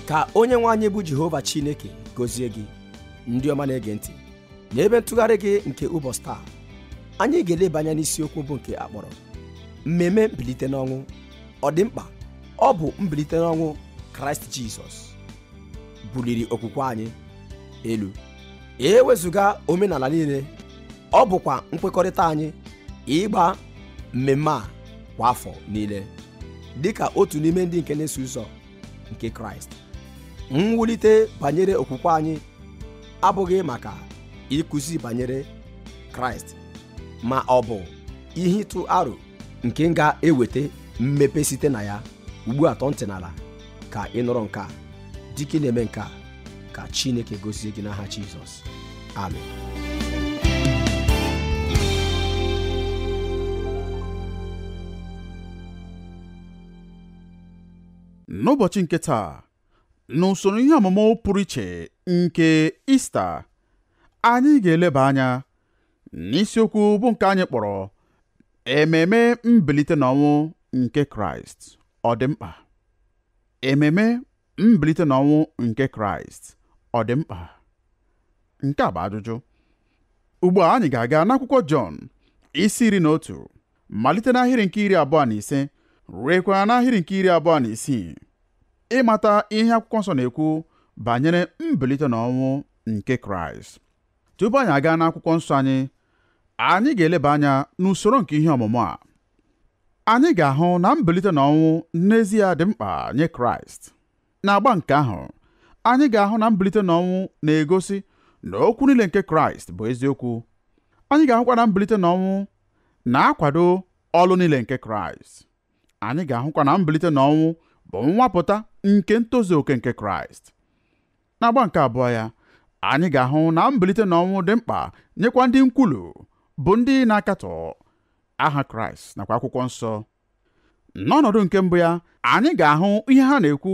ka onye nwe anyị bụ jehova chineke gozie gị ndị ọma na-ege ntị n'ebe ntụgharị gị nke ụbọchị taa anyị ga-eleba anya n'isiokwu bụ nke a kpọrọ mmemme mbilite n'ọnwụ ọ dị mkpa ọ bụ mbilite n'ọnwụ kraịst jizọs buliri okwukwe anyị elu e wezụga omenala niile ọ bụkwa nkwekọrịta anyị ịgba mmemme a kwa afọ niile dịka otu n'ime ndị nke na-eso ụzọ nke kraịst mwulite banyere okwukwe anyị abụghị maka ịkụzi banyere kraịst ma ọ bụ ihe ịtụ aro nke m ga-eweta mmepe site na ya ugbu a tọọ ntị n'ala ka ị nụrụ nke a dịka ị na-eme nke a ka chineke gozie gị n'aha jizọs amen n'ụbọchị nke taa n'usoro ihe ọmụmụ pụrụ iche nke ista anyị ga-eleba anya n'isiokwu bụ nke anyị kpọrọ ememe mbilite n'ọnwụ nke kraịst ọ dị mkpa ememe mbilite n'ọnwụ nke kraịst ọ dị mkpa nke a bụ ajụjụ ugbu a anyị ga-aga n'akwụkwọ jọn isi iri na otu malite n'ahịrị nke iri abụọ na ise ruekwa n'ahịrị nke iri abụọ na isii ịmata ihe akwụkwọ nsọ na-ekwu banyere mbilite na ọnwụ nke kraịst tupu anyị agaa n'akwụkwọ nsọ anyị anyị ga-eleba anya n'usoro nke ihe ọmụmụ a anyị ga-ahụ na mbilite na ọnwụ n'ezie dị mkpa nye kraịst n'agba nke ahụ anyị ga-ahụ na mbilite na ọnwụ na-egosi na okwu niile nke kraịst bụ eziokwu anyị ga-ahụkwa na mbilite na ọnwụ na-akwado ọlụ niile nke Kraịst anyị ga-ahụkwa na mbilite na ọnwụ bụ nnwapụta nke ntozu oke nke Kraịst n'agba nke abụọ ya anyị ga-ahụ na mbilite na ọnwụ dị mkpa nyekwa ndị nkwulu bụ ndị na-akatọ aha Kraịst nakwa akwụkwọ nsọ n'ọnọdụ nke mbụ ya anyị ga-ahụ ihe ha na-ekwu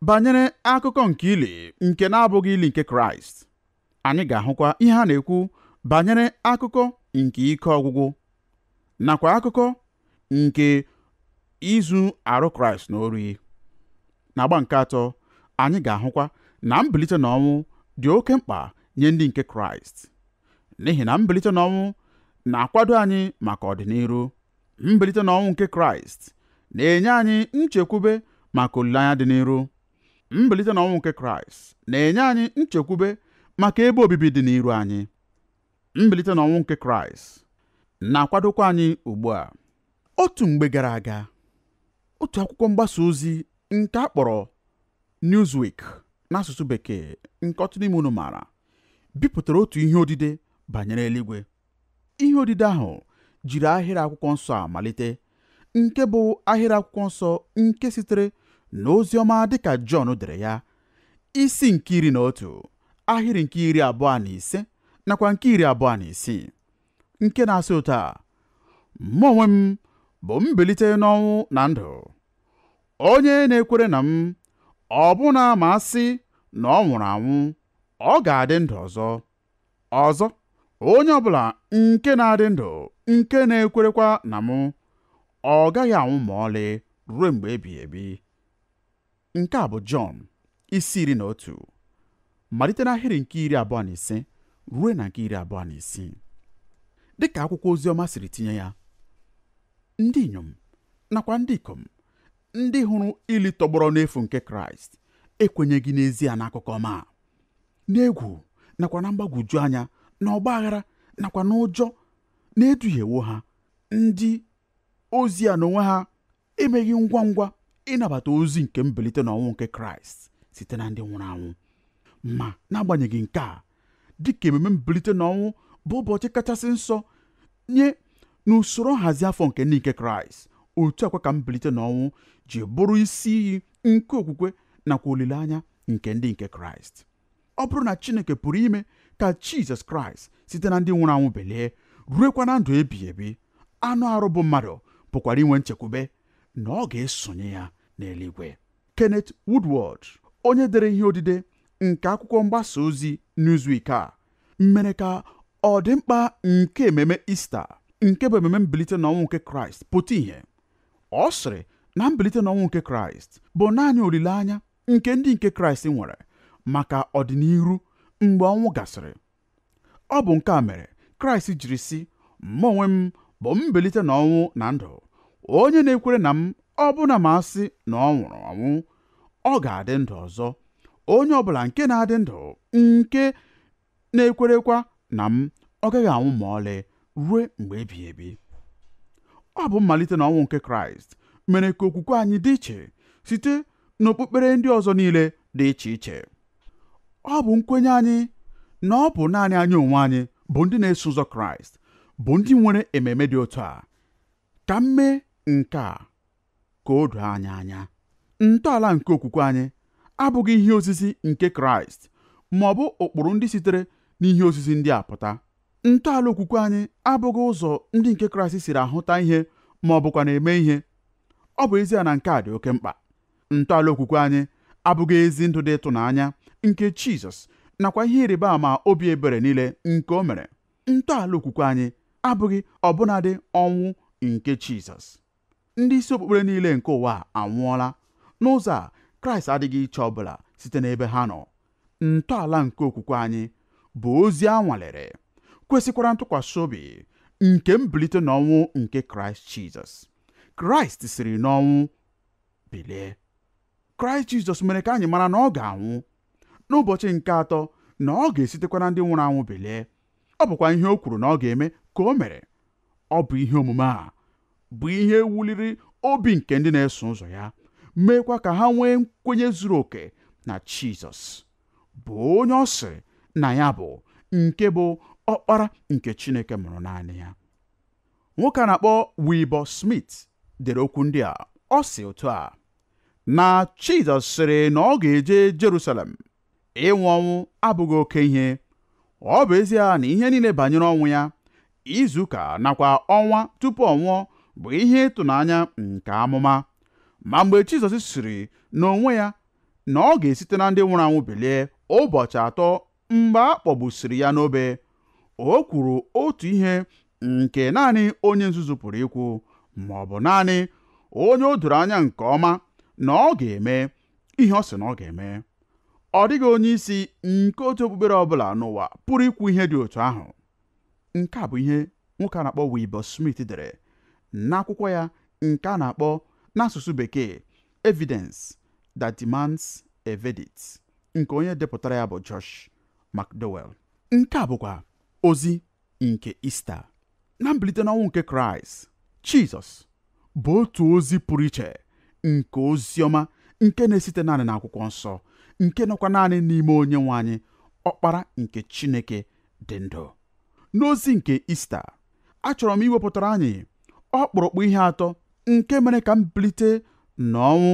banyere akụkọ nke ili nke na-abụghị ili nke kraịst anyị ga-ahụkwa ihe ha na-ekwu banyere akụkọ nke ike ọgwụgwụ nakwa akụkọ nke izu arụ kraịst n'ori n'agba nke atọ anyị ga-ahụkwa na mbilite na ọnwụ dị oke mkpa nye ndị nke kraịst n'ihi na mbilite na ọnwụ na-akwado anyị maka ọdịniru mbilite na ọnwụ nke kraịst na-enye anyị nchekwube maka olileanya dị n'iru mbilite n'ọnwụ nke kraịst na-enye anyị nchekwube maka ebe obibi dị n'iru anyị mbilite n'ọnwụ nke kraịst na-akwadokwa anyị ugbu a otu mgbe gara aga otu akwụkwọ mgbasa ozi nke a kpọrọ Newsweek n'asụsụ bekee nke ọtụtụ n'ime unu maara bipụtara otu ihe odide banyere eluigwe Ihe odide ahụ jiri ahịrị akwụkwọ nsọ a malite nke bụ ahịrị akwụkwọ nsọ nke sitere n'ozi ọma dịka Jọn dere ya isi nke iri na otu ahịrị nke iri abụọ na ise nakwa nke iri abụọ na isii nke na-asị otu a mụ onwe m bụ mbilite n'ọnwụ na ndụ onye na-ekwere na m ọbụna ma a sị na ọ nwụrụ anwụ ọ ga-adị ndụ ọzọ ọzọ onye ọbụla nke na-adị ndụ nke na-ekwerekwa na mụ ọ gaghị anwụ ma ọlị ruo mgbe ebighị ebi nke a bụ Jọn isi iri na otu malite n'ahịrị nke iri abụọ na ise ruo na nke iri abụọ na isii dị ka akwụkwọ ozi ọma siri tinye ya ndị inyom nakwa ndị ikom ndị hụrụ ili tọgbọrọ n'efu nke Kraịst ekwenyeghị n'ezie n'akụkọ ọma n'egwu nakwa na mgbagwoju anya na ọgba aghara nakwa n'ụjọ na-eduhiewo ha ndị ozi a n'onwe ha emeghị ngwa ngwa ịnabata ozi nke mbilite n'ọnwụ nke kraịst site na ndị nwụrụ anwụ ma n'agbanyeghị nke a dịka ememe mbilite n'ọnwụ bụ ụbọchị kachasị nsọ nye n'usoro nhazi afọ nke ndị nke kraịst otu a kwa ka mbilite n'ọnwụ ji bụrụ isi iyi nke okwukwe nakwa olileanya nke ndị nke kraịst ọ bụrụ na chineke pụrụ ime ka jizọs kraịst site na ndị nwụrụ anwụ belie ruekwa na ndụ ebighị ebi anụ arụ bụ mmadụ pụkwara inwe nchekwube na ọ ga-esonye ya n'eluigwe Kenneth Woodward onye dere ihe odide nke akwụkwọ mgbasa ozi Newsweek a mere ka ọdịmkpa nke ememe Ista nke bụ ememe mbilite n'ọnwụ nke Kraịst pụta ìhè ọ sịrị na mbilite n'ọnwụ nke kraịst bụ naanị olileanya nke ndị nke Kraịst nwere maka ọdịnihu mgbe ọnwụ gasịrị ọ bụ nke a mere Kraịst jiri sị mụ onwe m bụ mbilite n'ọnwụ na ndụ onye na-ekwere na m ọbụna ma a sị na ọ nwụrụ ọnwụ ọ ga-adị ndụ ọzọ onye ọbụla nke na-adị ndụ nke na-ekwerekwa na m ọ gaghị anwụ ma ọlị ruo mgbe ebighị ebi ọ bụ mmalite na ọnwụ nke kraịst mere ka okwukwe anyị dị iche site n'okpukpere ndị ọzọ niile dị iche iche ọ bụ nkwenye anyị na ọ bụ naanị anyị onwe anyị bụ ndị na-eso ụzọ kraịst bụ ndị nwere ememe dị otu a ka m mee nke a ka o doo anyị anya ntọala nke okwukwe anyị abụghị ihe ozizi nke kraịst ma ọ bụ ụkpụrụ ndị sitere n'ihe ozizi ndị a pụta ntọala okwukwe anyị abụghị ụzọ ndị nke kraịst siri ahụta ihe ma ọ bụkwa na-eme ihe ọ bụ ezie na nke a dị oke mkpa ntọala okwukwe anyị abụghị ezi ndụ dị ịtụnanya nke jizọs nakwa ihe ịrịba ama obi ebere niile nke o mere ntọala okwukwe anyị abụghị ọbụnadị ọnwụ nke jizọs Ndị isi okpukpere niile nke ụwa a anwụọla. N'ụzọ a, Kraịst adịghị iche ọ bụla site n'ebe ha nọ. Ntọala nke okwukwe anyị bụ ozi a nwalere, kwesịkwara ntụkwasị obi nke mbilite n'ọnwụ nke Kraịst Jizọs. Kraịst siri n'ọnwụ bilie. Kraịst Jizọs mere ka anyị mara na ọ ga-anwụ n'ụbọchị nke atọ na ọ ga-esitekwa na ndị nwụrụ anwụ bilie. ọ bụkwa ihe o kwuru na ọ ga-eme ka o mere ọ bụ ihe omume a bụ ihe wuliri obi nke ndị na-eso ụzọ ya meekwa ka ha nwee nkwenye zuru oke na Jizọs bụ onye ọ sịrị na ya bụ nke bụ ọkpara nke Chineke mụrụ naanị ya nwoke a na-akpọ Wilbur Smith dere okwu ndị a ọ sị otu a na Jizọs sịrị na ọ ga-eje Jerusalem ịnwụ ọnwụ abụghị oke ihe ọ bụ ezie na ihe niile banyere ọnwụ ya izu ụka nakwa ọnwa tupu ọ nwụọ bụ ihe ịtụnanya nke amụma ma mgbe Jizọs sịrị n'onwe ya na ọ ga-esite na ndị nwụrụ anwụ bilie ụbọchị atọ mgbe a kpọgbusiri ya n'obe o kwuru otu ihe nke naanị onye nzuzu pụrụ ikwu ma ọ bụ naanị onye o doro anya nke ọma na ọ ga-eme ihe ọ sị na ọ ga-eme ọ dịghị onye isi nke otu okpukpere ọ bụla n'ụwa pụrụ ikwu ihe dị otu ahụ nke a bụ ihe nwoke a na-akpọ Wilbur Smith dere n'akwụkwọ ya nke a na-akpọ n'asụsụ bekee evidence that demands a verdict nke onye depụtara ya bụ Josh McDowell nke a bụkwa ozi nke Ista na mbilite n'ọnwụ nke Kraịst Jizọs bụ otu ozi pụrụ iche nke ozi ọma nke na-esite naanị n'akwụkwọ nsọ nke nọkwa naanị n'ime onye nwe anyị ọkpara nke Chineke dị ndụ n'ozi nke Ista achọrọ m iwepụtara anyị ọkpụrụkpụ ihe atọ nke mere ka mbilite n'ọnwụ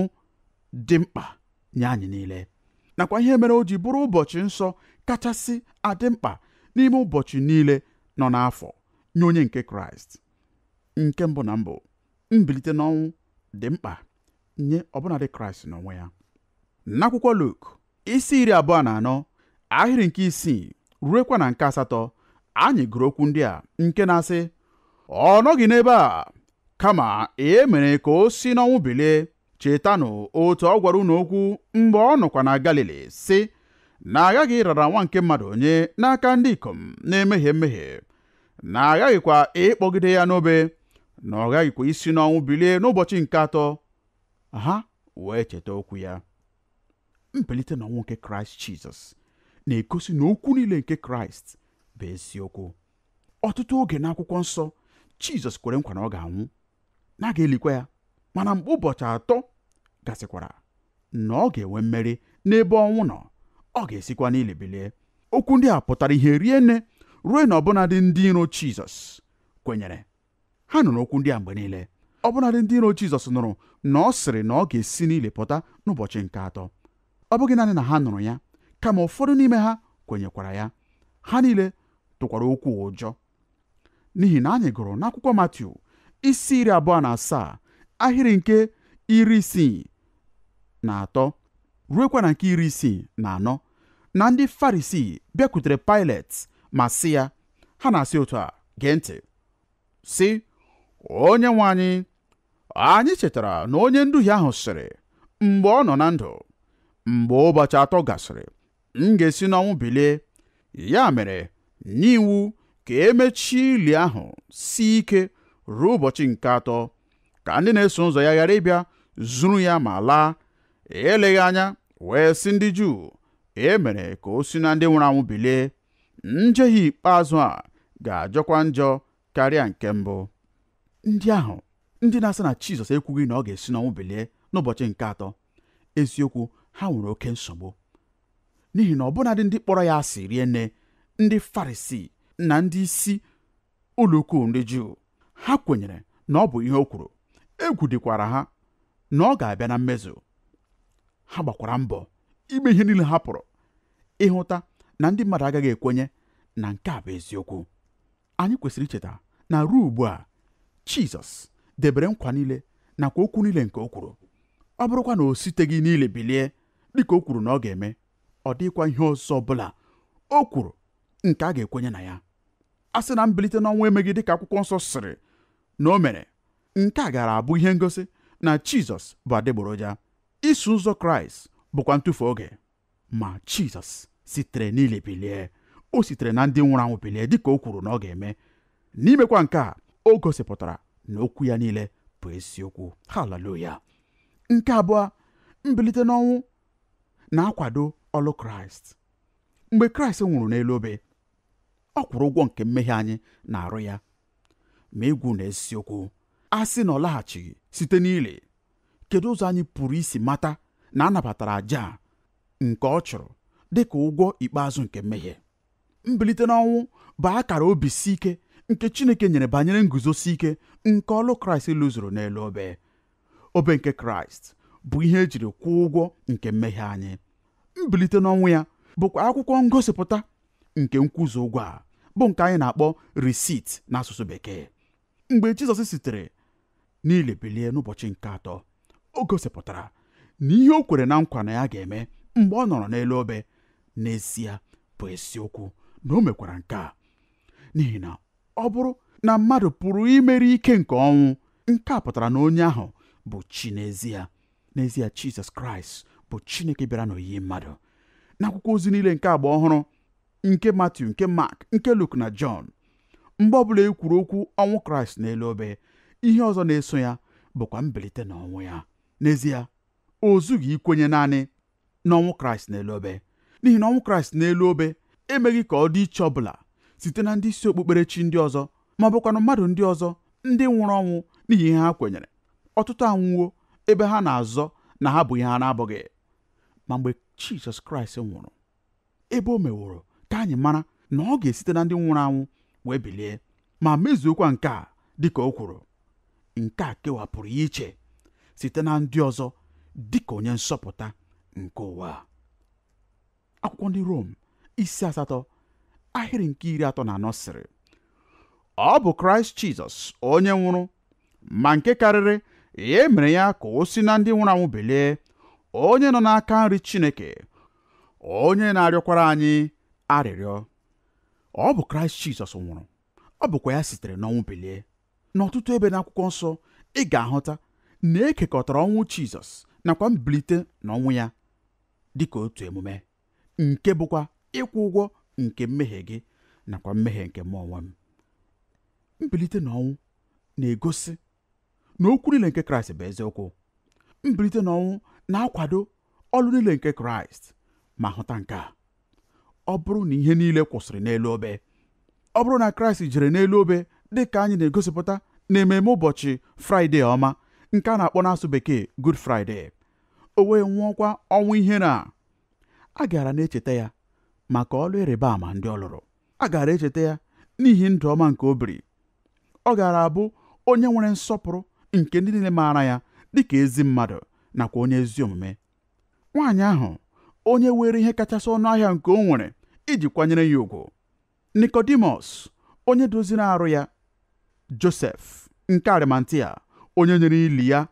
dị mkpa nye anyị niile nakwa ihe mere o ji bụrụ ụbọchị nsọ kachasị adị mkpa n'ime ụbọchị niile nọ n'afọ nye onye nke kraịst nke mbụ na mbụ mbilite n'ọnwụ dị mkpa nye ọbụnadị kraịst n'onwe ya n'akwụkwọ luk isi iri abụọ na anọ ahịrị nke isii ruekwa na nke asatọ anyị gụrụ okwu ndị a nke na-asị ọ nọghị n'ebe a kama e mere ka o si n'ọnwụ bilie chetanụ otu ọ gwara unu okwu mgbe ọ nọkwa na Galili sị na aghaghị ịrara nwa nke mmadụ nye n'aka ndị ikom na-emehie mmehie na aghaghịkwa ịkpọgide ya n'obe na ọ ghaghịkwa isi n'ọnwụ bilie n'ụbọchị nke atọ ha wee cheta okwu ya mbilite n'ọnwụ nke kraịst jizọs na-egosi na okwu niile nke kraịst bụ eziokwu ọtụtụ oge n'akwụkwọ nsọ jizọs kwere nkwa na ọ ga-anwụ na a ga-elikwa ya mana mgbe ụbọchị atọ gasịkwara na ọ ga-enwe mmeri n'ebe ọnwụ nọ ọ ga-esikwa n'ili bilie okwu ndị a pụtara ihe rie nne ruo na ọbụnadị ndị iro Jizọs kwenyere ha nụrụ okwu ndị a mgbe niile ọbụnadị ndị iro Jizọs nụrụ na ọ sịrị na ọ ga-esi n'ili pụta n'ụbọchị nke atọ ọ bụghị naanị na ha nụrụ ya kama ụfọdụ n'ime ha kwenyekwara ya ha niile tụkwara okwu a ụjọ n'ihi na anyị gụrụ n'akwụkwọ Matiu isi iri abụọ na asaa ahịrị nke iri isii na atọ ruekwa na nke iri isii na anọ na ndị Farisii bịakwutere Pailet ma sị ya ha na-asị otu a gee ntị sị onye nwe anyị anyị chetara na onye nduhie ahụ sịrị mgbe ọ nọ na ndụ mgbe ụbọchị atọ gasịrị m ga-esi n'ọnwụ bilie ya mere nye iwu ka e mechie ili ahụ sie ike ruo ụbọchị nke atọ ka ndị na-eso ụzọ ya ghara ịbịa zuru ya ma laa eleghị anya wee sị ndị Juu e mere ka o si na ndị nwụrụ anwụ bilie njehie ikpeazụ a ga-ajọkwa njọ karịa nke mbụ ndị ahụ ndị na-asị na Jizọs ekwughị na ọ ga-esi n'ọnwụ bilie n'ụbọchị nke atọ eziokwu ha nwere oke nsogbu n'ihi na ọbụnadị ndị kpọrọ ya asị rie nne ndị farisii na ndị isi ụlọ ukwu ndị juu ha kwenyere na ọ bụ ihe o kwuru egwu dịkwara ha na ọ ga-abịa na mmezu ha gbakwara mbọ ime ihe niile ha pụrụ ịhụta na ndị mmadụ agaghị ekwenye na nke a bụ eziokwu anyị kwesịrị icheta na ruo ugbu a Jizọs debere nkwa niile nakwa okwu niile nke o kwuru ọ bụrụkwa na o siteghị n'ili bilie dịka o kwuru na ọ ga-eme ọ dịghịkwa ihe ọzọ ọbụla o kwuru nke a ga-ekwenye na ya a sị na mbilite n'ọnwụ emeghị dịka akwụkwọ nsọ sịrị na o mere nke a gaara abụ ihe ngosi na Jizọs bụ adịgboroja iso ụzọ Kraịst bụkwa ntụfu oge ma jizọs sitere n'ili bilie o sitere na ndị nwụrụ anwụ bilie dịka o kwuru na ọ ga-eme n'imekwa nke a o gosipụtara na okwu ya niile bụ eziokwu haleluya nke abụọ mbilite n'ọnwụ na-akwado ọlụ kraịst mgbe kraịst nwụrụ n'elu obe ọ kwụrụ ụgwọ nke mmehie anyị n'arụ ya ma ịgwa unu eziokwu a sị na ọ laghachighị site n'ili kedu ụzọ anyị pụrụ isi mata na a nabatara aja a nke ọ chụrụ dị ka ụgwọ ikpeazụ nke mmehie mbilite n'ọnwụ bụ akara obi si ike nke Chineke nyere banyere nguzosi ike nke ọlụ Kraịst lụzuru n'elu obe obe nke Kraịst bụ ihe e jiri kwụọ ụgwọ nke mmehie anyị mbilite n'ọnwụ ya bụkwa akwụkwọ ngosipụta nke nkwụzu ụgwọ a bụ nke anyị na-akpọ receipt n'asụsụ bekee mgbe Jizọs sitere n'ili bilie n'ụbọchị nke atọ o gosipụtara na ihe o kwere na nkwa na ya ga-eme mgbe ọ nọrọ n'elu obe n'ezie bụ eziokwu na o mekwara nke a n'ihi na ọ bụrụ na mmadụ pụrụ imeri ike nke ọnwụ nke a pụtara na onye ahụ bụ chi n'ezie n'ezie Jizọs Kraịst bụ Chineke bịara n'oyiyi mmadụ n'akwụkwọ ozi niile nke agba ọhụrụ nke Matiu nke Mak nke Luk na Jọn mgbe ọbụla e kwuru okwu ọnwụ Kraịst n'elu obe ihe ọzọ na-eso ya bụkwa mbilite na ọnwụ ya n'ezie o zughị ikwenye naanị n'ọnwụ Kraịst n'elu obe n'ihi na ọnwụ Kraịst n'elu obe emeghị ka ọ dị iche ọbụla site na ndị isi okpukperechi ndị ọzọ ma ọ bụkwanụ mmadụ ndị ọzọ ndị nwụrụ ọnwụ n'ihi ihe ha kwenyere ọtụtụ anwụwo ebe ha na-azọ na ha bụ ihe ha na-abụghị ma mgbe Jizọs Kraịst nwụrụ ebe o meworo ka anyị mara na ọ ga-esite na ndị nwụrụ anwụ wee bilie ma mezuokwa nke a dịka o kwuru nke a kewapụrụ ya iche site na ndị ọzọ dịka onye nzọpụta nke ụwa akwụkwọ ndị Rom isi asatọ ahịrị nke iri atọ na anọ sịrị ọ bụ Kraịst Jizọs onye nwụrụ ma nke karịrị ya e mere ya ka o si na ndị nwụrụ anwụ bilie onye nọ n'aka nri Chineke onye na-arịọkwara anyị arịrịọ ọ bụ kraịst jizọs nwụrụ ọ bụkwa ya sitere n'ọnwụ bilie n'ọtụtụ ebe n'akwụkwọ nsọ ị ga-ahụta na e kekọtara ọnwụ jizọs nakwa mbilite na ọnwụ ya dịka otu emume nke bụkwa ịkwụ ụgwọ nke mmehie gị nakwa mmehie nke mụ onwe m mbilite na ọnwụ na-egosi na okwu niile nke kraịst bụ eziokwu mbilite n'ọnwụ na-akwado ọlụ niile nke kraịst ma hụta nke a ọ bụrụ na ihe niile kwụsịrị n'elu obe ọ bụrụ na kraịst jere n'elu obe dị ka anyị na-egosipụta n'ememe ụbọchị fraịde ọma nke a na-akpọ n'asụ bekee Good Friday o wee nwụọkwa ọnwụ ihere a a gaara na-echeta ya maka ọlụ ịrịba ama ndị ọ lụrụ a gaara echeta ya n'ihi ndụ ọma nke o biri ọ gaara abụ onye nwere nsọpụrụ nke ndị niile maara ya dị ka ezi mmadụ nakwa onye ezi omume nwaanyị ahụ onye weere ihe kachasị ọnụ ahịa nke o nwere iji kwanyere ya ugwu Nikọdimọs onye doziri arụ ya Josef nke Arimatia onye nyere ili ya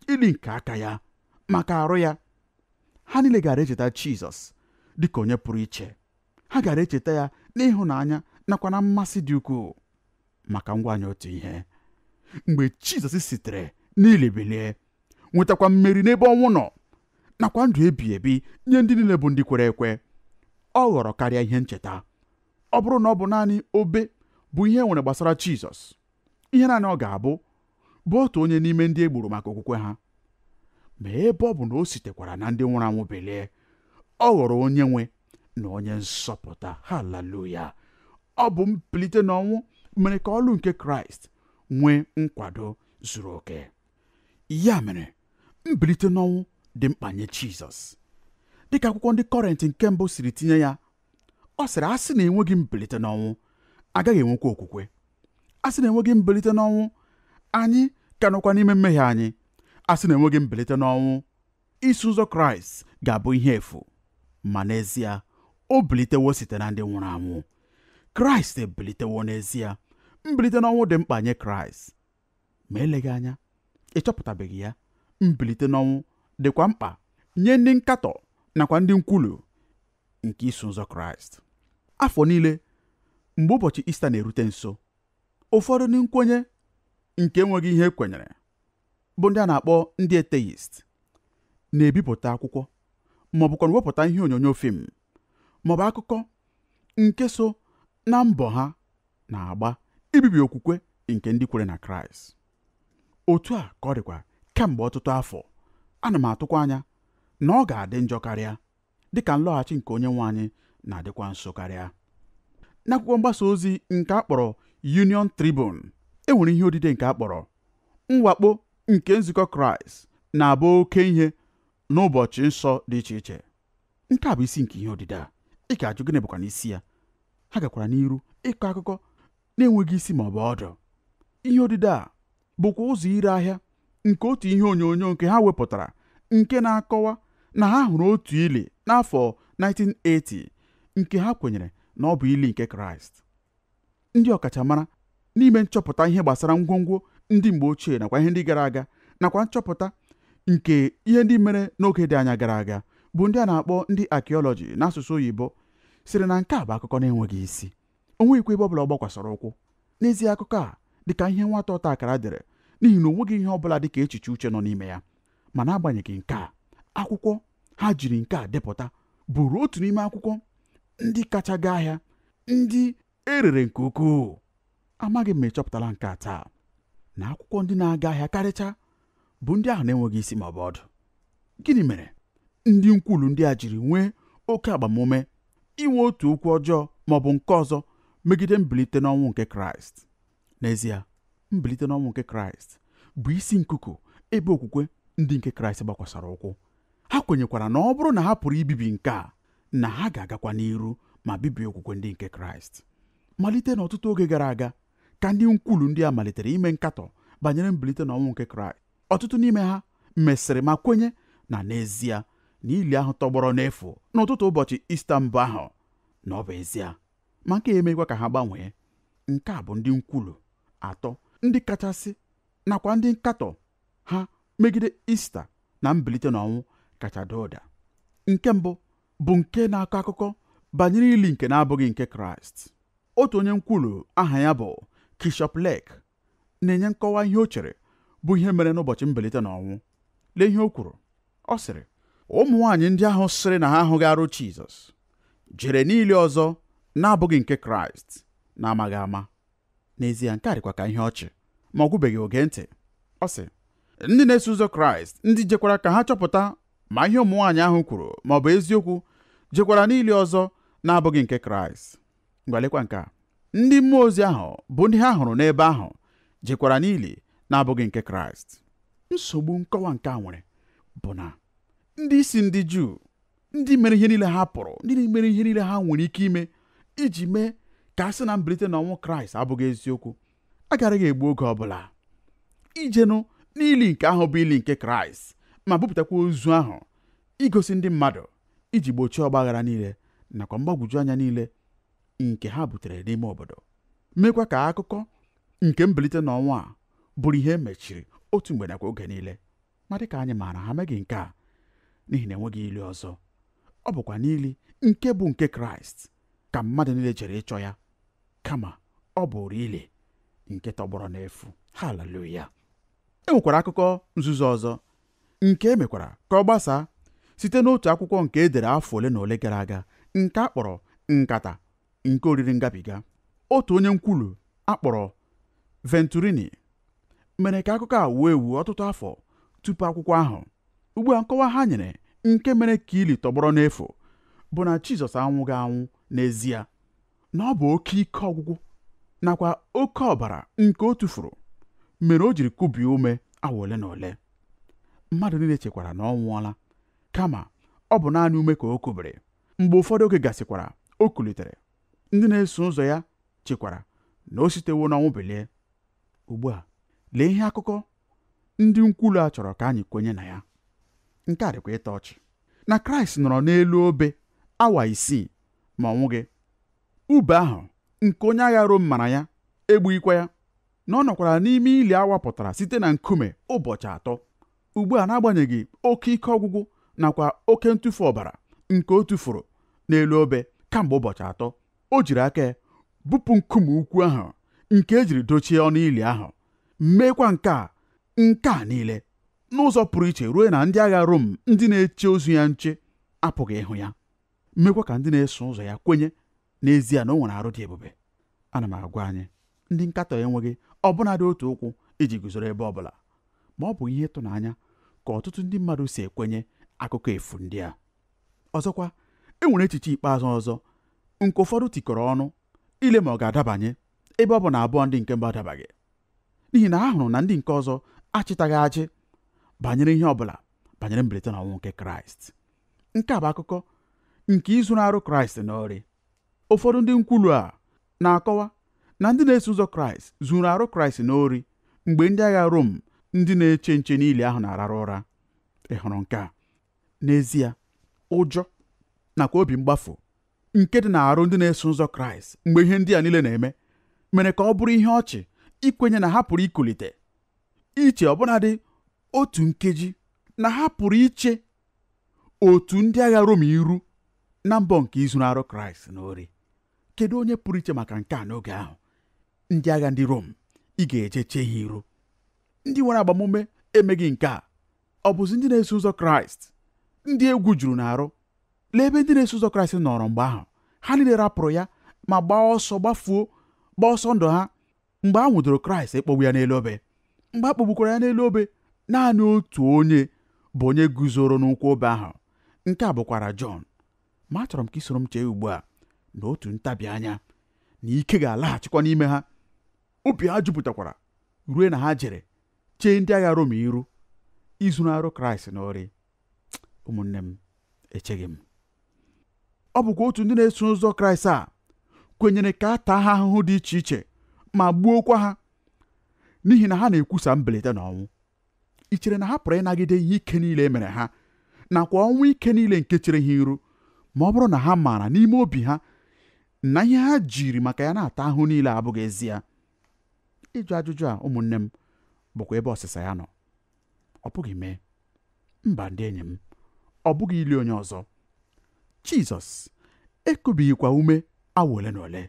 ili nke aka ya maka arụ ya ha niile gaara echeta Jizọs dịka onye pụrụ iche ha gaara echeta ya n'ịhụnanya nakwa na mmasị dị ukwuu ma ka m gwa anyị otu ihe mgbe Jizọs sitere n'ili bilie nwetakwa mmeri n'ebe ọnwụ nọ nakwa ndụ ebi ebi nye ndị niile bụ ndị kwere ekwe ọ ghọrọ karịa ihe ncheta ọ bụrụ na ọ bụ naanị obe bụ ihe e nwere gbasara Jizọs ihe naanị ọ ga-abụ bụ otu onye n'ime ndị e gburu maka okwukwe ha ma ebe ọ bụ na o sitekwara na ndị nwụrụ anwụ bilie ọ ghọrọ onye nwe na onye nzọpụta haleluya ọ bụ mbilite n'ọnwụ mere ka ọlụ nke kraịst nwee nkwado zuru oke ya mere mbilite n'ọnwụ dị mkpa nye jizọs dịka akwụkwọ ndị kọrịnt nke mbụ siri tinye ya ọ sịrị a sị na enweghị mbilite n'ọnwụ agaghị enwekwa okwukwe a sị na enweghị mbilite n'ọnwụ anyị ka nọkwa n'ime mmehie anyị a sị na enweghị mbilite n'ọnwụ Iso ụzọ Kraịst ga-abụ ihe efu, ma n'ezie o bilitewo site na ndị nwụrụ anwụ. Kraịst ebilitewo n'ezie. Mbilite n'ọnwụ dị mkpa nye Kraịst. Ma eleghị anya, ị chọpụtabeghị ya. Mbilite n'ọnwụ dịkwa mkpa nye ndị nkatọ nakwa ndị nkwulu nke Iso Ụzọ Kraịst. Afọ niile mgbe ụbọchị Ista na-erute nso, ụfọdụ ndị nkwenye nke enweghị ihe e kwenyere bụ ndị a na-akpọ ndị atheist na-ebipụta akwụkwọ ma ọ bụkwa wepụta ihe onyonyo fim ma ọ bụ akụkọ nke so na mbọ ha na-agba ibibi okwukwe nke ndị kwere na kraịst otu a ka ọ dịkwa kemgbe ọtụtụ afọ ana m atụkwa anya na ọ ga-adị njọ karịa dị ka nlọghachi nke onye nwe anyị na-adịkwa nso karịa n'akwụkwọ mgbasa ozi nke a kpọrọ Union Tribune e nwere ihe odide nke a kpọrọ mwakpo nke nzukọ Kraịst na-abụ oke ihe n'ụbọchị nsọ dị iche iche nke a bụ isi nke ihe odide a ị ga-ajụ gịnị bụkwanụ isi ya ha gakwara n'iru ịkọ akụkọ na-enweghị isi ma ọ bụ ọdụ ihe odide a bụkwa ụzọ ire ahịa nke otu ihe onyonyo nke ha wepụtara nke na-akọwa na ha hụrụ otu ili n'afọ 1980 nke ha kwenyere na ọ bụ ili nke Kraịst ndị ọkachamara n'ime nchọpụta ihe gbasara ngwongwo ndị mgbe ochie nakwa ihe ndị gara aga nakwa nchọpụta nke ihe ndị mere n'oge dị anya gara aga bụ ndị a na-akpọ ndị archaeology n'asụsụ oyibo sịrị na nke a bụ akụkọ na-enweghị isi o nweghịkwa ebe ọ bụla ọ gbakwasara ụkwụ n'ezie akụkọ a dị ka ihe nwata ọta akara dere n'ihi na o nweghị ihe ọ bụla dị ka echiche uche nọ n'ime ya ma n'agbanyeghị nke a akwụkwọ ha jiri nke a depụta bụrụ otu n'ime akwụkwọ ndị kacha gaa ahịa ndị e rere nke ukwuu amaghị m ma ị chọpụtala nke a taa na akwụkwọ ndị na-aga ahịa karịcha bụ ndị ahụ na-enweghị isi ma ọ bụ ọdụ gịnị mere ndị nkwulu ndị a jiri nwee oke agbamume inwe otu okwu ọjọọ ma ọ bụ nke ọzọ megide mbilite n'ọnwụ nke kraịst n'ezie mbilite n'ọnwụ nke kraịst bụ isi nkuku ebe okwukwe ndị nke kraịst gbakwasara ụkwụ ha kwenyekwara na ọ bụrụ na ha pụrụ ibibi nke a na ha ga-agakwa n'iru ma bibie okwukwe ndị nke kraịst malite n'ọtụtụ oge gara aga ka ndị nkwulu ndị a malitere ime nkatọ banyere mbilite na ọnwụ nke kraịst ọtụtụ n'ime ha mesịrị ma kwenye na n'ezie na ili ahụ tọgbọrọ n'efu n'ụtụtụ ụbọchị ista mbụ ahụ na ọ bụ ezie ma nke a emeghịkwa ka ha gbanwee nke a bụ ndị nkwulu atọ ndị kachasị nakwa ndị nkatọ ha megide ista na mbilite n'ọnwụ kacha daa ụda nke mbụ bụ nke na-akọ akụkọ banyere ili nke na-abụghị nke Kraịst otu onye nkwulu aha ya bụ Kirsopp Lake na-enye nkọwa ihe o chere bụ ihe mere n'ụbọchị mbilite n'ọnwụ lee ihe o kwuru ọ sịrị ụmụ nwaanyị ndị ahụ sịrị na ha ahụghị arụ Jizọs jere n'ili ọzọ na-abụghị nke Kraịst n'amaghị ama n'ezie nke a dịkwa ka ihe ọchị ma ọ gwụbeghị o gee ntị ọ sị ndị na-eso ụzọ kraịst ndị jekwara ka ha chọpụta ma ihe ụmụ nwaanyị ahụ kwuru ma ọ bụ eziokwu jekwara n'ili ọzọ na-abụghị nke kraịst ngwa lekwa nke a ndị mmụọ ozi ahụ bụ ndị ha hụrụ n'ebe ahụ jekwara n'ili na-abụghị nke kraịst nsogbu nkọwa nke a nwere bụ na ndị isi ndị juu ndị mere ihe niile ha pụrụ ndị mere ihe niile ha nwere ike ime iji mee ka a sị na mbilite n'ọnwụ kraịst abụghị eziokwu agaraghị egbu oge ọbụla ijenụ n'ili nke ahụ bụ ili nke kraịst ma bupụtakwa ozu ahụ igosi ndị mmadụ iji gbochie ọgbaghara niile nakwa mgbagwoju anya niile nke ha butere n'ime obodo mekwa ka akụkọ nke mbilite n'ọnwụ a bụrụ ihe e mechiri otu mgbe nakwa oge niile ma dịka anyị maara ha meghị nke a n'ihi na enweghị ili ọzọ ọ bụkwa n'ili nke bụ nke kraịst ka mmadụ niile jere ịchọ ya kama ọ bụrụ ili nke tọgbọrọ n'efu haleluya e nwekwara akụkọ nzuzo ọzọ nke e mekwara ka ọ gbasaa site n'otu akwụkwọ nke e dere afọ ole na ole gara aga nke a kpọrọ nkata nke oriri ngabiga otu onye nkwulu a kpọrọ venturini mere ka akụkọ a wuo ewu ọtụtụ afọ tupu akwụkwọ ahụ ugbu a nkọwa ha nyere nke mere ka ili tọgbọrọ n'efu bụ na Jizọs anwụghị anwụ n'ezie na ọ bụ oke ike ọgwụgwụ nakwa oke ọbara nke o tufuru mere o jiri kubie ume awa ole na ole mmadụ niile chekwara na ọ nwụọla kama ọ bụ naanị ume ka o kubiri mgbe ụfọdụ oge gasịkwara o kulitere ndị na-eso ụzọ ya chekwara na o sitewo n'ọnwụ bilie ugbu a lee ihe akụkọ ndị nkwulu a chọrọ ka anyị kwenye na ya nke a dịkwa ịtọ ọchị na kraịst nọrọ n'elu obe awa isii ma ọ nwụghị ube ahụ nke onye agha rom mara ya egbughịkwa ya na ọ nọkwara n'ime ili a wapụtara site na nkume ụbọchị atọ ugbu a n'agbanyeghị oke ike ọgwụgwụ nakwa oke ntufu ọbara nke o tufuru n'elu obe kamgbe ụbọchị atọ o jiri aka bupụ nkume ukwu ahụ nke e jiri dochie ọnụ ili ahụ meekwa nke a nke a niile n'ụzọ pụrụ iche ruo na ndị agha Rom ndị na-eche ozu ya nche apụghị ịhụ ya mekwa ka ndị na-eso ụzọ ya kwenye n'ezie na o nwere arụ dị ebube ana m agwa anyị ndị nkatọ enweghị ọbụnadị otu ụkwụ iji guzoro ebe ọ bụla ma ọ bụ ihe ịtụnanya ka ọtụtụ ndị mmadụ si ekwenye akụkọ efu ndị a ọzọkwa e nwere echiche ikpeazụ ọzọ nke ụfọdụ tikọrọ ọnụ ile ma ọ ga-adabanye ebe ọ bụ na abụọ ndị nke mbụ adabaghị n'ihi na ha hụrụ na ndị nke ọzọ achịtaghị aja banyere ihe ọ bụla banyere mbilite n'ọnwụ nke kraịst nke a bụ akụkọ nke izuru arụ kraịst n'ori ụfọdụ ndị nkwulu a na-akọwa na ndị na-eso ụzọ kraịst zuru arụ kraịst n'ori mgbe ndị agha rom ndị na-eche nche n'ili ahụ na-ararụ ụra ị hụrụ nke a n'ezie ụjọ nakwa obi mgbafu nke dị na-arụ ndị na-eso ụzọ kraịst mgbe ihe ndị a niile na-eme mere ka ọ bụrụ ihe ọchị ikwenye na ha pụrụ ikulite iche ọbụnadị otu nkeji na ha pụrụ iche otu ndị agha Rom iru na mbọ nke izuru arụ kraịst n'ori kedu onye pụrụ iche maka nke a n'oge ahụ ndị agha ndị Rom ị ga-eje chee ha iru ndị nwere agbamume emeghị nke a ọ bụzi ndị na-eso ụzọ kraịst ndị egwu juru n'arụ lee ebe ndị na-eso ụzọ kraịst nọrọ mgbe ahụ ha niile rapụrụ ya ma gbaa ọsọ gbafuo gbaa ọsọ ndụ ha mgbe a nwụdoro kraịst ịkpọgbu ya n'elu obe mgbe a kpọgbukwara ya n'elu obe naanị otu onye bụ onye guzoro n'ụkwụ obe ahụ nke a bụkwara jọn ma achọrọ m ka i soro m chee ugbu a na otu ntabi anya na ike ga-alaghachikwa n'ime ha obi ha jupụtakwara ruo na ha jere chee ndị agha Rom iru izuru arụ Kraịst n'ori ụmụnne m echeghị m ọ bụkwa otu ndị na-eso ụzọ Kraịst a kwenyere ka a taa ha ahụhụ dị iche iche ma gbuokwa ha n'ihi na ha na-ekwusa mbilite n'ọnwụ i chere na ha pụrụ ịnagide ihe ike niile e mere ha nakwa ọnwụ ike niile nke chere ha iru ma ọ bụrụ na ha maara n'ime obi ha na ihe ha jiri maka ya na-ata ahụhụ niile abụghị ezie ịjụ ajụjụ a ụmụnne m bụkwa ebe ọsịsa ya nọ ọ bụghị mee mba ndị enyi m ọ bụghị ili onye ọzọ jizọs ekubighịkwa ume awa ole na ole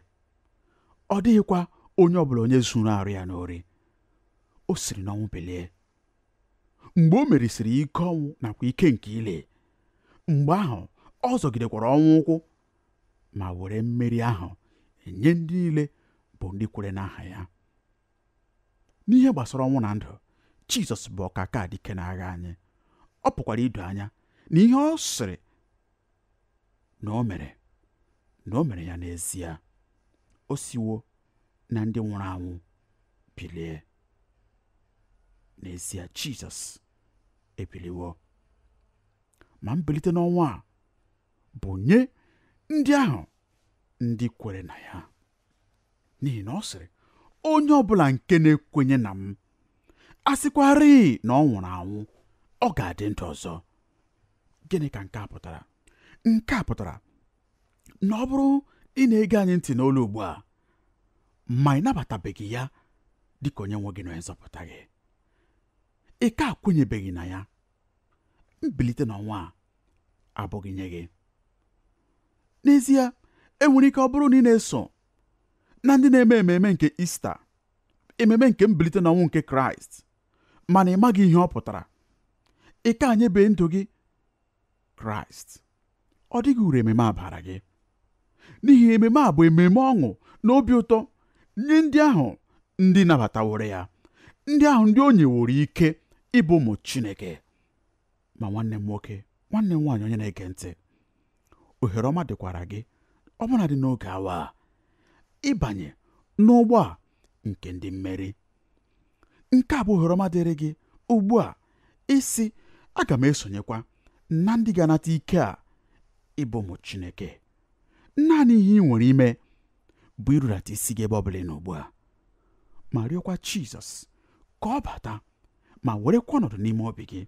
ọ dịghịkwa onye ọbụla onye zuru arụ ya n'ori o siri n'ọnwụ bilie mgbe o merisịrị ike ọnwụ nakwa ike nke ili mgbe ahụ ọ zọgidekwara ọnwụ ụkwụ ma were mmeri ahụ nye ndị niile bụ ndị kwere n'aha ya n'ihe gbasara ọnwụ na ndụ jizọs bụ ọkaka dike n'agha anyị ọ pụkwara ido anya na ihe ọ sịrị na o mere na o mere ya n'ezie o siwo na ndị nwụrụ anwụ bilie n'ezie jizọs ebiliwo ma mbilite n'ọnwụ a bụ nye ndị ahụ ndị kwere na ya n'ihi na ọ sịrị onye ọbụla nke na-ekwenye na m a sịkwarị na ọ nwụrụ anwụ ọ ga-adị ndụ ọzọ gịnị ka nke a pụtara nke a pụtara na ọ bụrụ ị na-ege anyị ntị n'olu ugbu a ma ị nabatabeghị ya dịka onye nwe gị na onye nzọpụta gị ị ka akwenyebeghị na ya mbilite n'ọnwụ a abụghị nye gị n'ezie enwere ike ọ bụrụ na ị na-eso na ndị na-eme ememe nke ista ememe nke mbilite n'ọnwụ nke kraịst mana ị maghị ihe ọ pụtara ị ka anyebe ndụ gị kraịst ọ dịghị uru ememe a bara gị n'ihi ememe a bụ ememe ọṅụ na obi ụtọ nye ndị ahụ ndị nabataworo ya ndị ahụ ndị o nyeworo ike ịbụ ụmụ chineke ma nwanne m nwoke nwanne m nwaanyị onye na-ege ntị ohere ọma dịkwara gị ọbụnadị n'oge awa a ịbanye n'ụgbọ a nke ndị mmeri nke a bụ ohere ọma dịrị gị ugbu a ịsị aga m esonyekwa na ndị ga-anata ike a ịbụ ụmụ Chineke naanị ihe i nwere ime bụ irudata isi gị ebe ọ bụla ị nọ ugbu a ma rịọkwa Jizọs ka ọ bata ma werekwa ọnọdụ n'ime obi gị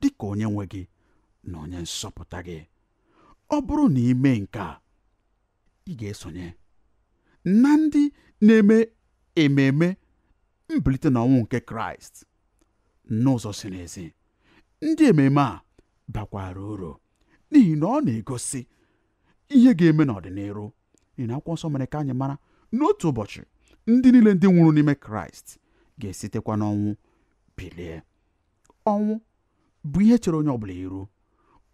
dị ka onye nwe gị na onye nzọpụta gị ọ bụrụ na i mee nke a ị ga-esonye na ndị na-eme ememe mbilite na ọnwụ nke kraịst n'ụzọ ziri ezi ndị ememe a bakwara uru n'ihi na ọ na-egosi ihe ga-eme n'ọdịniru n'ihi na akwụkwọ nsọ mere ka anyị mara na otu ụbọchị ndị niile ndị nwụrụ n'ime kraịst ga-esitekwa n'ọnwụ bilie ọnwụ bụ ihe chere onye ọbụla iru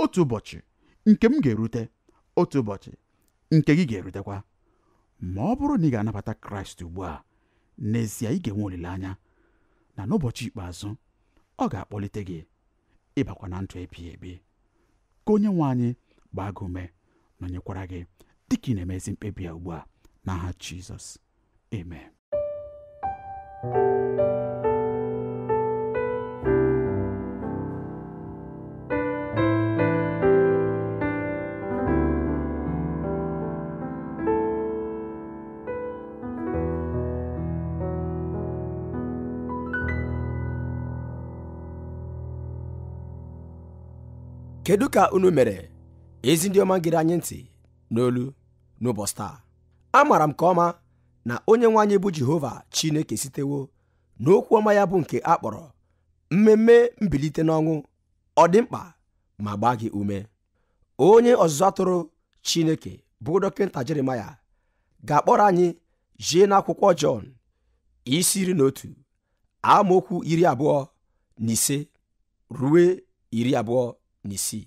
otu ụbọchị nke m ga-erute otu ụbọchị nke gị ga-erutekwa ma ọ bụrụ na ị ga-anabata kraịst ugbu a n'ezie ị ga-enwe olileanya na n'ụbọchị ikpeazụ ọ ga-akpọlite gị ịbakwa na ndụ ebighị ebi ka onye nwe anyị gbaa gị ume nọnyekwara gị dịka ị na-eme ezi mkpebi a ugbu a n'aha Jizọs Amen. kedu ka unu mere ezi ndị ọma gere anyị ntị n'olu n'ụbọchị taa amaara m nke ọma na onye nwe anyị bụ jehova chineke sitewo n'okwu ọma ya bụ nke a kpọrọ mmemme mbilite n'ọnwụ ọ dị mkpa ma gbaa gị ume onye ọzụzụ atụrụ chineke bụ dọkịta jeremaya ga-akpọrọ anyị jee n'akwụkwọ jọn isi iri na otu amaokwu iri abụọ na ise rue iri abụọ na isii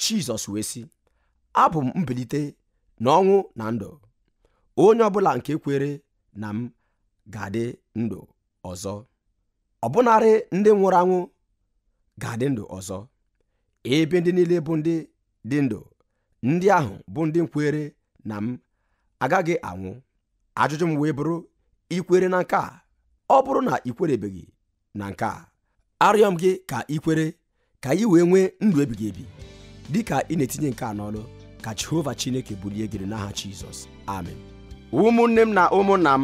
Jizọs wee sị abụ m mbilite na ọnwụ na ndụ onye ọbụla nke kwere na m ga-adị ndụ ọzọ ọbụnarị ndị nwụrụ anwụ ga-adị ndụ ọzọ ebe ndị niile bụ ndị dị ndụ ndị ahụ bụ ndị kwere na m agaghị anwụ ajụjụ m wee bụrụ i kwere na nke a ọ bụrụ na i kwerebeghị na nke a arịọ m gị ka i kwere ka i wee nwee ndụ ebighị ebi dị ka ị na-etinye nke a n'ọlụ ka Jehova Chineke bulie gị n'aha Jizọs amen ụmụnne m na ụmụnna m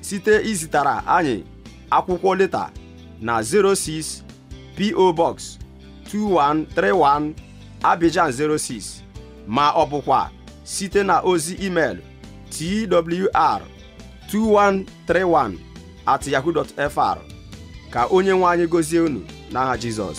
site izitara anyị akwụkwọ leta na 06 PO Box 2131 Abidjan 06 ma ọ bụkwa site na ozi email twr 2131 at yahoo.fr ka onye nwe anyị gọzie unu n'aha Jizọs